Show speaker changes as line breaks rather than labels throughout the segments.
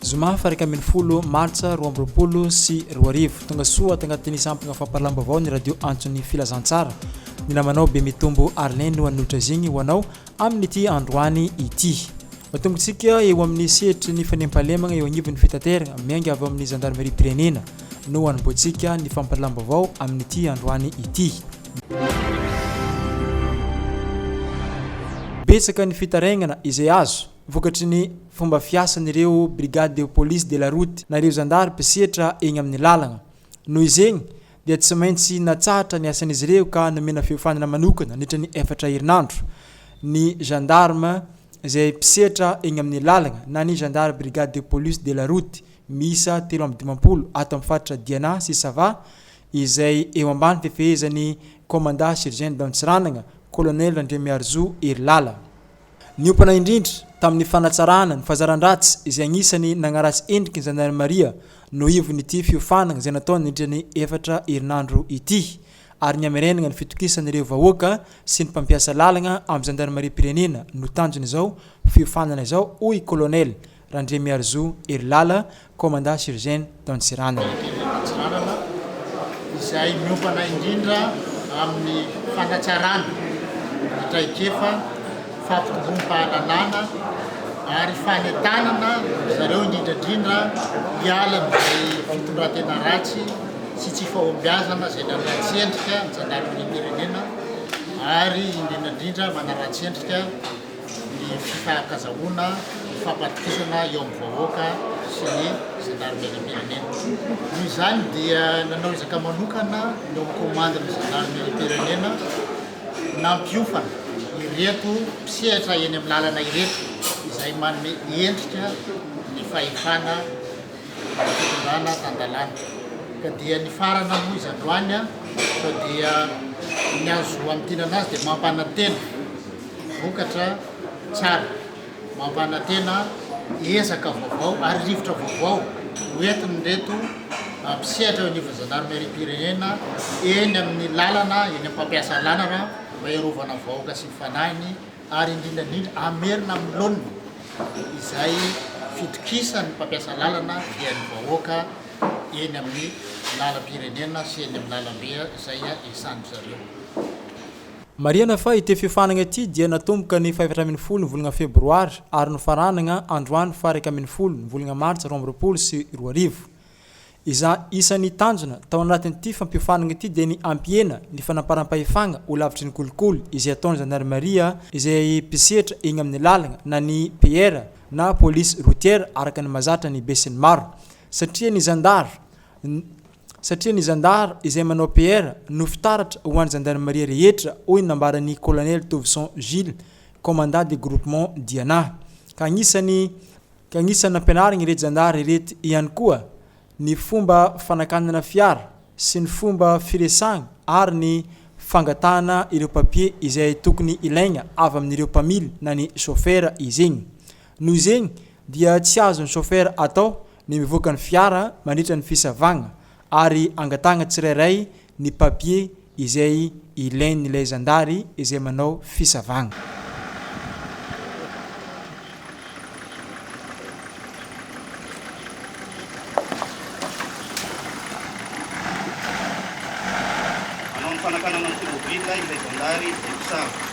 Zoma faha iraika ambin'ny folo martsa roa amby roapolo sy roa arivo. Tonga soa ato anatin'ny sampona fampahalalam-baovao ny radio Antson'ny Filazantsara. Ny namanao Bemitombo Arlin no hanotrezigny ho anao amin'ity androany ity. Tombotsika eo amin'ny sehatry ny fanemphalemagna eo agnivon'ny fitateragna, miainga avy ao amin'ny zandarimariam-pirenena no hanombohantsika ny fampahalalam-baovao amin'ity androany ity. Betsaka ny fitarainagna izay azo. vokatry ny fomba fiasan'ireo Brigade de Police de la Route na ireo zandary mpisetra eny amin'ny lalagna. Noho izegny dia tsy maintsy natsahatra ny asan'izy ireo ka nomena fiofanana manokana nandritra ny efatra herinandro ny gendarme izay mpisetra eny amin'ny lalagna na ny zandary Brigade de Police de la Route miisa telo amby dimampolo ato amin'ny faritra Diana sy Sava izay eo ambany fifehezan'ny Commanda Surgent d'Antsiranana Colonel Randriamiarizoa Herilala. Niompana indrindra tamin'ny fanatsarana ny fahazaran-dratsy izay anisan'ny nagnaratsy endriky ny zandarmaria no ivon'ity fiofanagna izay natao nandritra ny efatra herinandro ity ary ny hamerenagna ny fitokisan'ireo vahoaka sy ny mpampiasa lalagna amin'ny zandarimariam-pirenena no tanjon'izao fiofanana izao hoy Kolonely Randriamiharizoa Herilala, Commandant Surgen d'Antsiranana. Firenena Antsiranana
izay miompana indrindra amin'ny fanatsarana ny traikefa, fampitovom-pahalalana ary fanentanana ry zareo indrindra indrindra hiala amin'izay fitondran-tena ratsy sy tsy fahombiazana izay nanaratsy endrika ny Zandarimarim-pirenena ary indrindra indrindra manaratsy endrika ny fifahakazahoana, ny fampandofisana eo amin'ny vahoaka sy ny zandarimeriam-pirenena. Noho izany dia nanao ezaka manokana ny ao amin'ny komandin'ny zandarimeriam-pirenena nampiofana ireto mpisehatra eny amin'ny lalana ireto izay manome endrika ny fahefana fitondrana tan-dalàna. Ka dia nifarana moa izandroany fa dia ny azo amintinana azy dia mampanantena Vokatra tsara, mampanantena ezaka vaovao ary rivotra vaovao ho entin'ireto mpisehatra eo anivon'ny zandarimeriam-pirenena eny amin'ny lalana, eny amin'ny fampiasa lalana mba hiarovana vahoaka sy ny fanahiny ary indrindra indrindra hamerina amin'ny laoniny izay fitokisan'ny mpampiasa lalana dia ny vahoaka eny amin'ny lalam-pirenena sy eny amin'ny lalam-be izay iasàndry zareo.
Marihana fa ity fiofanana ity dia natomboka ny fahefatra ambin'ny folo ny volana febroary ary nofaranana androany faharaika ambin'ny folo ny volana martsa roa amby roapolo sy roa arivo. Izay isan'ny tanjona tao anatin'ity fampiofanana ity dia ny hampihena ny fanamparam-pahefana ho lavitry ny kolikoly izay ataon'ny zandarimaria izay mpisehatra eny amin'ny lalana na ny PR na polisy rotiera araka ny mahazatra ny besinimaro satria ny zandary satria ny zandary izay manao PR no fitaratra ho an'ny zandarimaria rehetra, hoy ny nambaran'ny Kolonely Tovison Gilles, Commandant de Groupement Diana. Ka agnisany ka agnisany nampianarigny irety zandary irety ihany koa ny fomba fanakanana fiara sy ny fomba firesagna ary ny fangatahana ireo papier izay tokony ilaigna avy amin'ireo mpamily na ny chauffeur izy igny. Noho izegny dia tsy azon'ny chauffeur atao ny mivoaka ny fiara mandritra ny fisavagna ary angatahagna tsirairay ny papier izay ilain'ilay zandary izay manao fisavagna.
Manao ny fanakanana ny tomobile ilay zandary izay mpisava.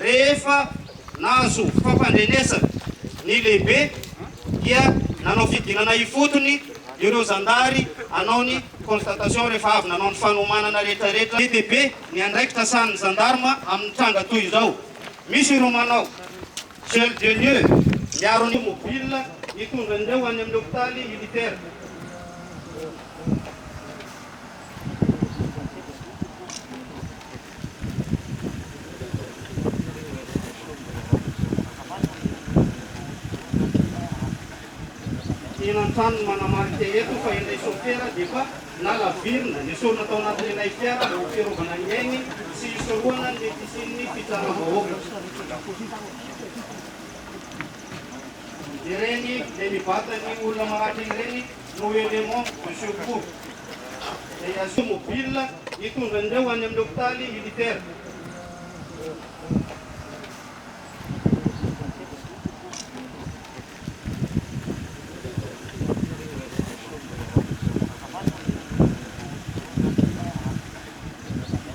Rehefa nahazo fampandrenesana ny lehibe dia nanao fidinana ifotony ireo zandary hanao ny constatation rehefa avy nanao ny fanomanana rehetrarehetra. Be dia be ny andraikitra sahanin'ny zandarma amin'ny tranga toy izao. Misy ireo manao gel de lieu miaro ny. Automobile hitondra an'ireo any amin'ny hopitaly militaire. Enan-trano no manamarika eto fa ilay sôfera dia efa nalavirina. Nesorina tao anatin'ilay fiara mba ho fiarovana ny ainy sy hisorohana ny mety hisian'ny fitsaram-bahoaka. Ireny dia ny vatan'ny olona maratra ireny. no élément de secours izay azonao mobile hitondra an'ireo any amin'ny hopitaly militaire.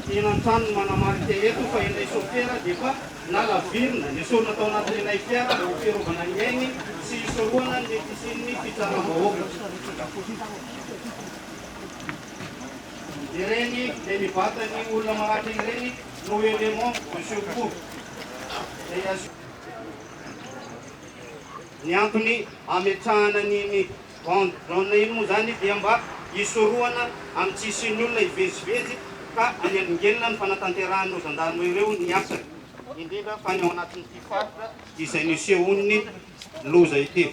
Tena an-trano no manamarika eto fa ilay sôfera dia efa nalavirina. Esorina tao anatin'ilay fiara mba ho fiarovana ny ainy sy hisorohana ny mety hisian'ny fitsaram-bahoaka. Ireny dia mibata ny olona maratra ireny no élément de secours izay asio. Ny antony ametrahana an'iny Bond jaune iny moa izany dia mba hisorohana amin'ny tsy hisian'ny olona hivezivezy ka hanenongenona ny fanatanterahan'ireo zandarima ireo ny asany, indrindra fa ny ao anatin'ity faritra izay nisehoan'ny loza ity.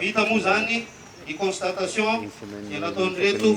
Vita moa izany ny constatation dia nataon'ireto.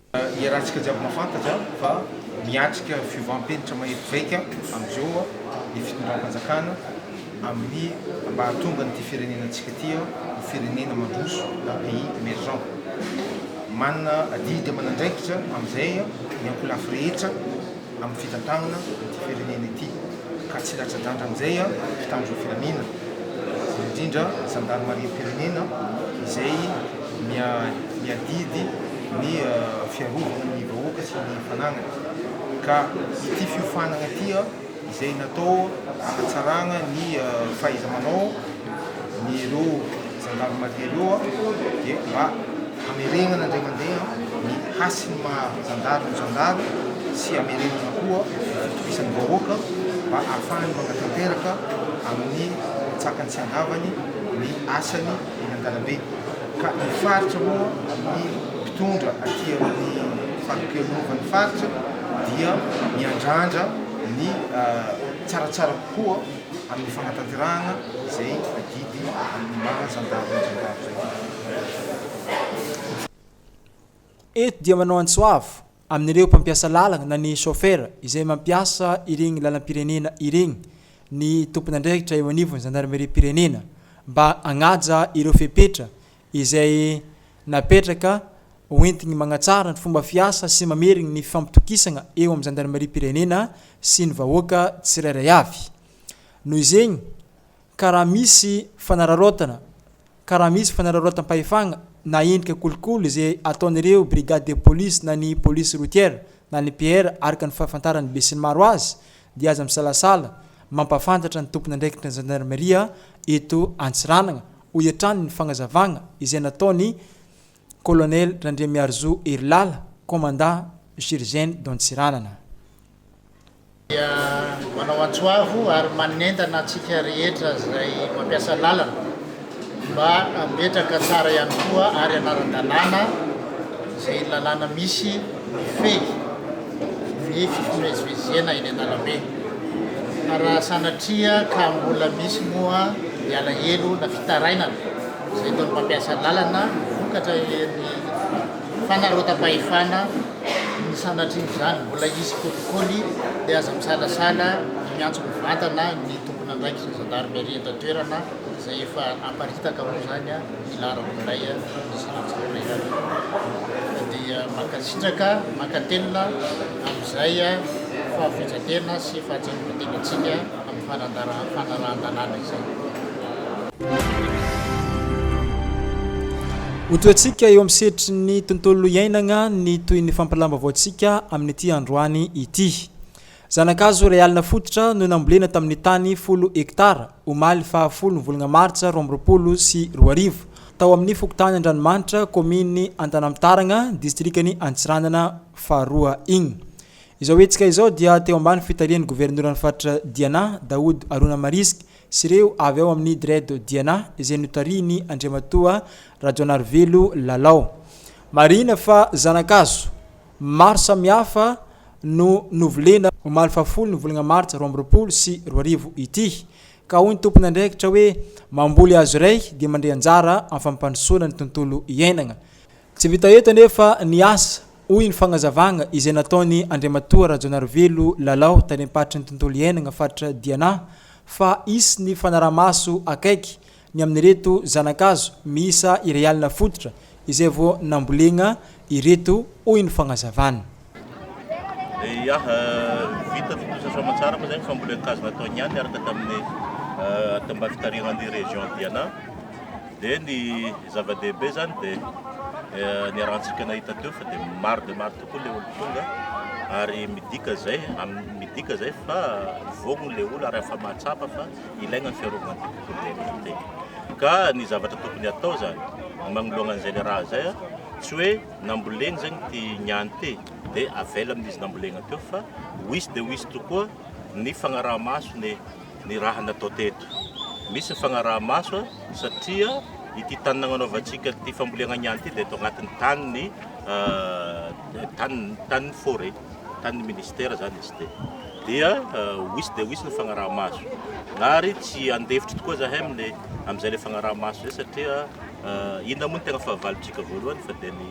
Iarahantsika
jiaby mahafantatra fa miatrika fiovam-penitra mahery vaika amin'izao ny fitondram-panjakana amin'ny mba hahatonga an'ity firenenantsika ity ho firenena mandroso na pays emergent. Manana adidy aman'andraikitra amin'izay ny ankolafy rehetra. amin'ny fitantanana ity firenena ity ka tsy latsa-danja amin'izay ny mpitandro ny filaminana, indrindra ny zandarimariam-pirenena izay miadidy ny fiarovana ny vahoaka sy ny fananany ka ity fiofanana ity izay natao hanatsarana ny fahaiza-manao ny ireo zandarimaria ireo dia mba Hamerenana indray mandeha ny hasin'ny maha zandary ny zandary sy hamerenana koa ny fitovisan'ny vahoaka mba hahafahany manatanteraka amin'ny antsakany sy andavany ny asany eny an-dalambe. Ka ny faritra moa, ny mpitondra aty amin'ny farim-pialonovan'ny faritra dia miandrandra ny tsaratsara kokoa amin'ny fanatanterahana izay adidy amin'ny maha zandary ny zandary izay.
Eto dia manao antso avo amin'ireo mpampiasa lalana na ny chauffeur izay mampiasa ireny lalam-pirenena ireny ny tompon'andraikitra eo anivon'ny zandarimeriam-pirenena mba hanaja ireo fepetra izay napetraka hoentiny manatsara ny fomba fiasa sy mameriny ny fifampitokisana eo amin'ny zandarimeriam-pirenena sy ny vahoaka tsirairay avy. Noho izegny. Ka raha misy fanararaotana, ka raha misy fanararaotam-pahefagna na endrika kolikoly izay ataon'ireo brigade de police na ny police routière na ny PR araka ny fahafantaran'ny besinimaro azy dia aza misalasala mampahafantatra ny tompon'andraikitra zandarimaria eto Antsiranana, hoy hatrany ny fagnazavagna izay nataon'i Kolonely Randriamiarizo Herilala, Komandà GIGN do Antsiranana. dia
manao antso avo ary manentana antsika rehetra izay mampiasa lalana mba hametraka tsara ihany koa ary hanara-dalàna izay lalàna misy mifehy ny fifamezivezena eny an-dalambe fa raha sanatria ka mbola misy moa ny alahelo na fitarainana izay nataon'ny mpampiasa lalana vokatra eny fanarotam-pahefana ny sanatrian'izany mbola hisy kolikoly dia aza misalasala miantso mivantana ny tompon'andraikitra zandarmeria eto an-toerana izay efa aparitaka moa izany a hilaharako indray a ny sanatrian'ilay izy dia mankasitraka mankatelina amin'izay a fahafindrantena sy fahatsarovan-tena antsika amin'ny fanarahan-dalàna
izay. Ho tohantsika eo amin'ny sehatry ny tontolo iainagna ny toy ny fampilam-baovaontsika amin'ity androany ity. Zana-kazo iray alina fototra no nambolena tamin'ny tany folo hektara, omaly faha folo ny volagna martsa roa amby roapolo sy roa arivo, tao amin'ny fokontany Andranomanitra, kaominy Antanampitaragna, distrikan'i Antsiranana faharoa igny. Izao hetsika izao dia teo ambany fitarihan'ny governoran'ny faritra Diana, Daoud Haruna Marisque sy ireo avy ao amin'ny Dread Diana izay notarihin'i Andriamatoa Rajaonarivelo Lalao. Marihina fa zana-kazo maro samihafa no novolena omaly fahafolo ny volagna martsa roa amby roapolo sy roa arivo ity ka hoy ny tompon'andraikitra hoe mamboly hazo iray dia mandray anjara amin'ny fampandrosoana ny tontolo iainagna Tsy vita eto anefa ny asa, hoy ny fagnazavagna izay nataon'i Andriamatoa Rajaonarivelo Lalao, Talem-paritry ny Tontolo Iainagna Faritra Diana, fa hisy ny fanaraha-maso akaiky ny amin'ireto zana-kazo miisa iray alina fototra izay vao nambolena ireto, hoy ny fagnazavana. Ia,
vita ny tontosa soamantsara moa izay ny fambolen-kazo natao niany niaraka tamin'ny tao-mba fitarihan'ny région Diana. Dia ny zava-dehibe izany dia niarahantsika nahita teo fa dia maro dia maro tokoa ilay olon-tonga ary midika izay midika izay fa voagny ilay olona ary efa mahatsapa fa ilaigna ny fiarovana ity tontolo iainana ity. Ka ny zavatra tokony atao izany magnoloana an'izay ilay raha izay tsy hoe namboleny zany ity niany ity dia avela amin'izy nambolena teo fa ho hisy dia ho hisy tokoa ny fanaraha-maso ny ny raha natao teto. Misy ny fanaraha-maso satria ity tany nagnanaovantsika ity fambolena niany ity dia eto agnatin'ny tanin'ny tany tanin'ny forêt, tanin'ny ministera zany izy ity. Dia ho hisy dia ho hisy ny fanaraha-maso. Ary tsy handefitra tokoa zahay amin'ny amin'izay ilay fanaraha-maso izay satria inona moa no tegna fahavalontsika voalohany fa dia ny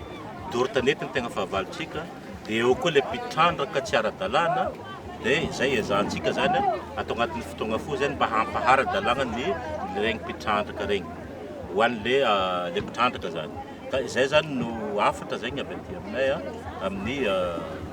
doro tanety no tegna fahavalontsika dia eo koa ilay mpitrandraka tsy ara-dalàna dia izay ezahantsika zany atao agnatin'ny fotoagna fohy zany mba hampaharadalàgna ny regny mpitrandraka regny ho an'le le mpitrandraka zany ka izay zany no hafatra zegny avy aty aminay amin'ny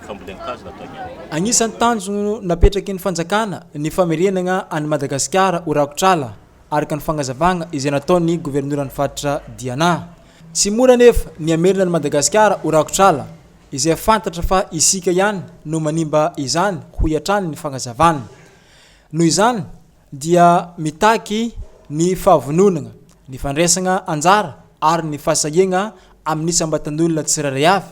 fambolen-kazo nataonay. Agnisan'ny tanjona
napetraky ny fanjakana ny famerenagna an'i Madagasikara ho rakotr'ala. araka ny fagnazavagna izay nataon'ny governoran'ny faritra Diana. Tsy mora anefa ny hamerina an'i Madagasikara ho rakotr'ala, izay fantatra fa isika ihany no manimba izany, hoy hatrany ny fagnazavana. Noho izany dia mitaky ny fahavononagna, ny fandraisagna anjara ary ny fahasahiagna amin'ny isam-batan'olona tsirairay avy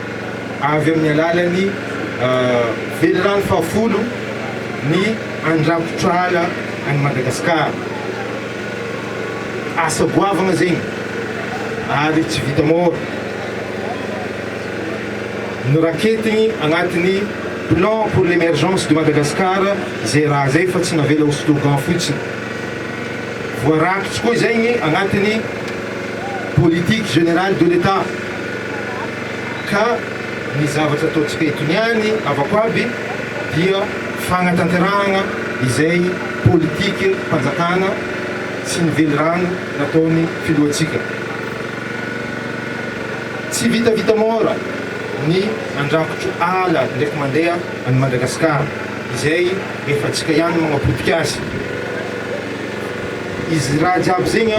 avy amin'ny alalan'ny velirano fahafolo ny andrakotra ala any Madagasikara. Asa goavana zegny ary tsy vita môra. Noraketigny agnatin'ny Plan pour l'emergence de Madagascar zay raha zay fa tsy navela ho slogan fotsiny. Voarakitsy koa zegny agnatin'ny Politique générale de l'Etat. ka ny zavatra ataontsika itony any avako avy dia fanatanterahana izay politique mpanjakana sy ny velirano nataony filohantsika. Tsy vitavita mora ny andrakotro ala ndraiky mandeha any Madagascar izay efa tsika ihany manapotika azy. Izy raha jiaby zegny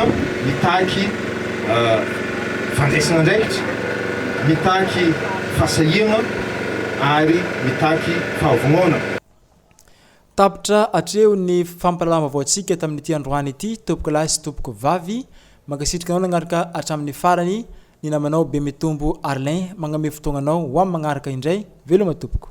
mitaky. fandraisana andraikitra, mitaky fahasahiana ary mitaky fahavonoana.
Tapitra hatreo ny fampahalalam-baovaontsika tamin'ity androany ity tompokolahy sy tompokovavy. Mankasitraka anao nagnaraka hatramin'ny farany ny namanao Bemitombo Arlin. Magname fotoagnanao ho amin'ny magnaraka indray. Veloma tompoko.